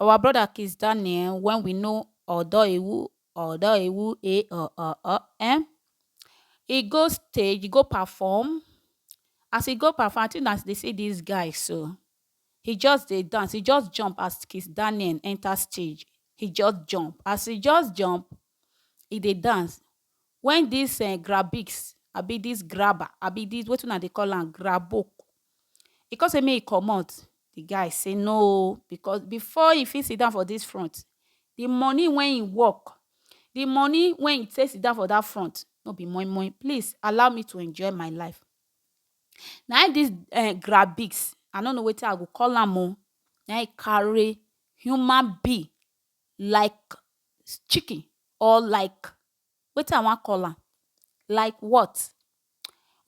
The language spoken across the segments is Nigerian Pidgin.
Our brother Kizz Daniel when we know Odo Ewu, Odo Ewu eh oh oh oh eh. He go stage, he go perform. As he go perform, I think as they see this guy so, he just dey dance, he just jump as Kizz Daniel enter stage. He just jump. As he just jump, e dey dance wen dis um grabiks abi dis graba abi dis wetin una dey call am grabo e come say make e comot di guy say no oh because before e fit sit down for dis front di money wey e work di money wey e take sit down for dat front no be moi moi please allow me to enjoy my life na im dis um grabiks I no know wetin I go call am oh na im e carry human being like chicken or like wetin I wan call am like what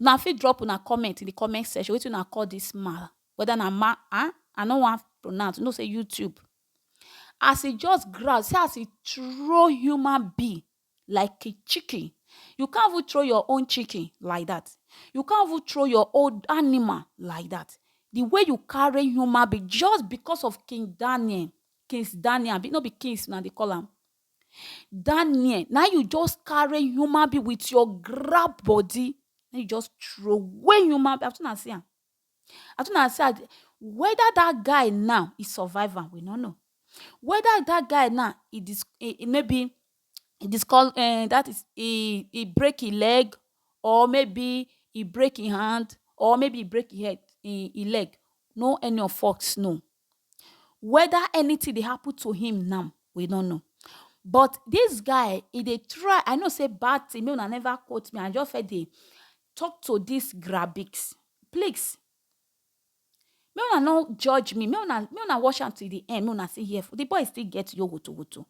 una fit drop una comment in de comment section wetin una call dis man whether na man um I no wan pronounce you know sey YouTube as e just grow see as e throw human being like chicken you can't even throw your own chicken like that you can't even throw your own animal like that the way you carry human being just because of king daniel kings daniel no be kings now they call him daniel now you just carry human being with your grab body you just throw away human being as soon as see am I tell una say weda dat guy now e survive am we no know, weda dat guy now e dis maybe e discol um dat is e e break hin leg or maybe e break hin hand or maybe e break hin head hin leg no any of us know. weda anytin dey happen to him now we no know but dis guy e dey try I know sey bad tin make una neva quote me I just first dey talk to dis grabics please make una no judge me make una watch am till di end make una still hear di boy still get yo woto woto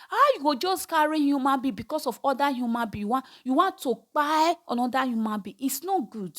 how you go just carry human being because of oda human being you wan to kpai anoda human being is not good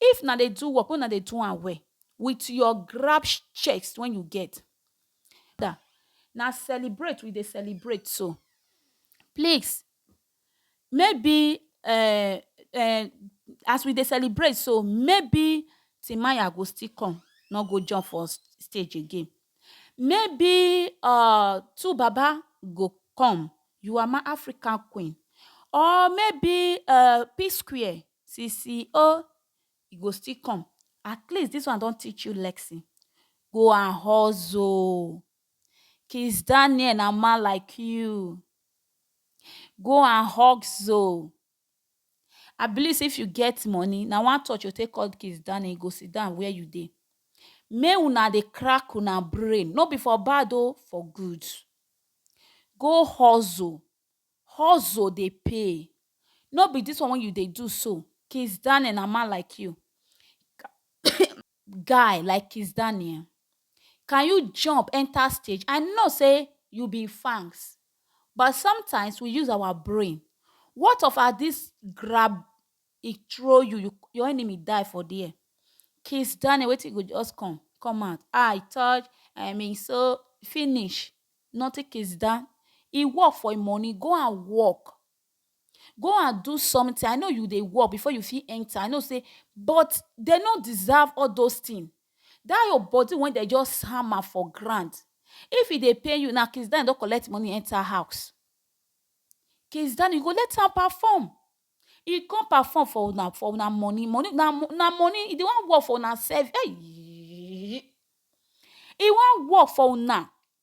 If na dey do work make una dey do am well with your grab chest wey you get dat na celebrate we dey celebrate so please maybe um um as we dey celebrate so maybe Timaya go still come no go jump for stage again. Maybe um two baba go come you are my African queen or maybe um P square sisi oh e go still come at least this one don teach you lesson go and hustle Kizz Daniel na man like you go and hustle I believe sey if you get money, na one touch you go take call the case down and e go sit down where you dey. Make huna dey crack huna brain. No be for bad oh, for good. Go hustle. Hustle dey pay. No be dis one wey you dey do so. Kizz Daniel na man like you. guy like Kizz Daniel can you jump enter stage I know say you be him fans but sometimes we use our brain what of as this grab he throw you you your enemy die for there Kizz Daniel wetin you go just come come out ah he touch I mean so finish nothing Kizz Dan he work for him money go and work Go and do something, I know you dey work before you fit enter, I know sey but dem no deserve all those things. Dat your body wey dem just hammer for ground, if e dey pain you na Kizz Daniel don collect money enter house. Kizz Daniel you go let am perform, e come perform for una for una money, money na na money, e dey wan work for una service, eyiiiiii, e wan work for una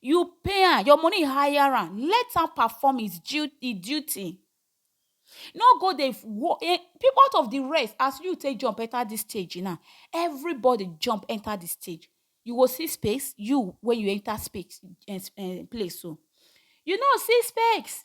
You pay am, your money hire am, let am perform his du e duty. No go dey wo e out of the rest as you take jump enter this stage now, everybody jump enter the stage. You go see space, you when you enter space um place so. You no see space,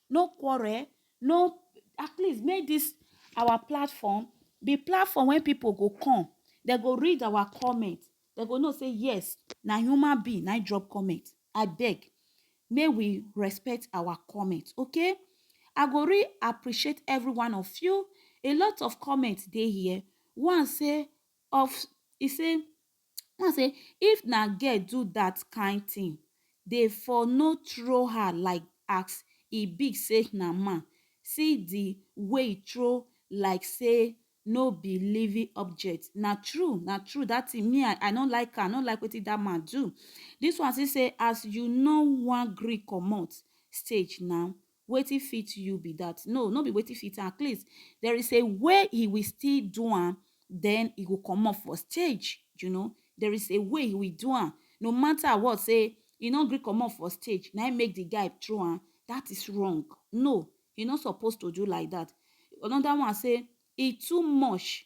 no quarrel, no at least make this our platform be platform wey people go come dey go read our comment dey go know say yes na human being na him drop comment abeg make we respect our comment okay I go really appreciate every one of you a lot of comment dey here one say of e say Una say if na girl do that kind thing dey for no throw her like as e big say na man, see the way e throw like say no be living object, na true na true that thing me I no like am I no like wetin that man do, this one still say as you no wan gree comot stage na Wetin fit you be that? No, no be wetin fit am. At least there is a way he will still do am, then he go comot for stage, you know. There is a way he will do am. No matter what, say he no gree comot for stage, na him make the guy throw am. That is wrong. No, he no suppose to do like that. Another one say, e too much,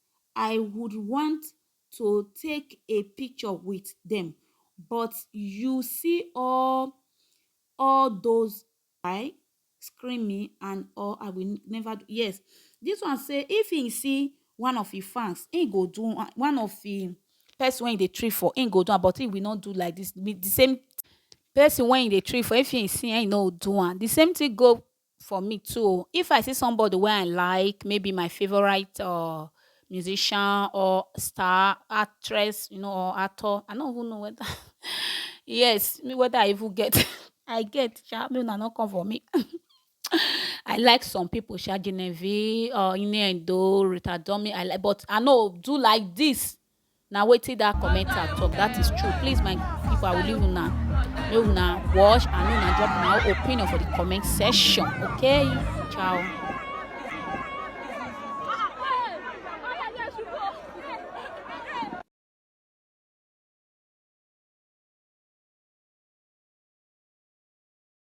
I would want to take a picture with them but you see all all those I scream me and all I will never do. Yes, this one say if he see one of his fans, he go do one, one of him person when he dey trip for, he go do am but he will not do like this. The same person when he dey trip for, if he see he no do am. The same thing go for me too o if i see somebody wey i like maybe my favorite uh, musician or star actress you know or actor i no even know whether yes me whether i even get i get sha me una no come for me i like some people sha genevieve uh inedo rita domi i like but i no do like this na wetin that commenter talk that is true please my people i will leave una make una watch and make una drop una own opinion for the comment section okay ciao.